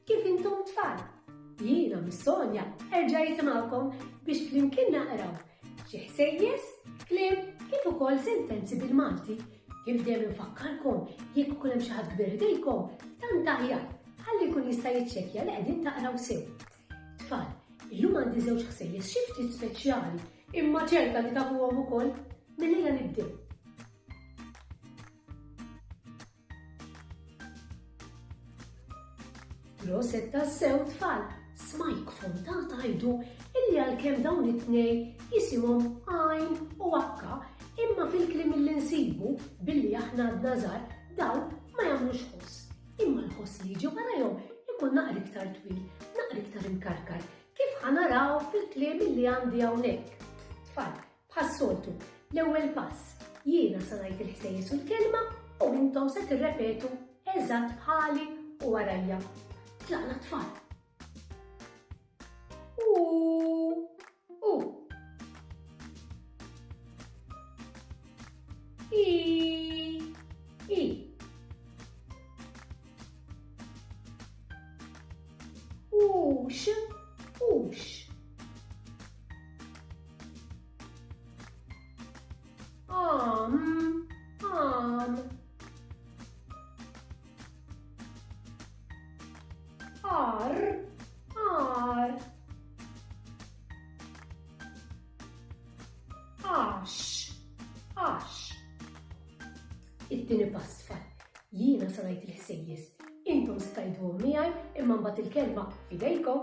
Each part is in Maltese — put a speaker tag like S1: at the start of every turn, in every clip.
S1: Kif intom tfal? Jiena Miss Sonja erġa' jisimgħukom biex flimkien naqraw xi ħsejjes, kliem kif ukoll sentenzi bil-Malti. Kif dejjem infakkarkom jekk ikun hemm xi ħadd kbir ħdejkom, tant aħjar ħalli jkun jista' jiċċekkja li qegħdin taqraw sew. Tfal, illum għandi żewġ ħsejjes xi ftit speċjali, imma ċerta li tafuhom ukoll mill-lejla nibdew. Proset tassew tfal, smajk fonta tajdu illi għalkemm dawn it-tnej jisimhom għajn u akka imma fil-klim li nsibu billi aħna għadna żgħar dawn ma jagħmlux ħoss. Imma l-ħoss li jiġi warajhom ikun naqra iktar twil, naqra iktar imkarkar kif ħanaraw fil-klim li għandi hawnhekk. Tfal, Bħas-soltu, l-ewwel pass, jiena se ngħid il-ħsejjes u l-kelma u intom se tirrepetu eżatt bħali u warajja. Tlaqna tfal. Om, om. Ar, ar. Ash, ash. It-tieni pass fat. Jiena sanajt il-ħsejjes. Intom stajdu miegħi imma mbagħad il-kelma fidejkom.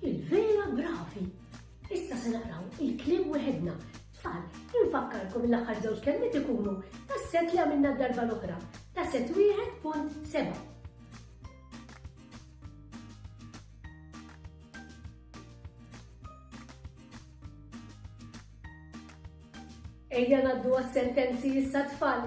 S1: Il-vera bravi! Issa se naqraw il-kliem weħedna. Tfal, infakkarkom l-aħħar żewġ kelmiet ikunu tas-set li għamilna darba l-oħra, ta' set wieħed punt seba'. Ejja naddu għas-sentenzi issa tfal.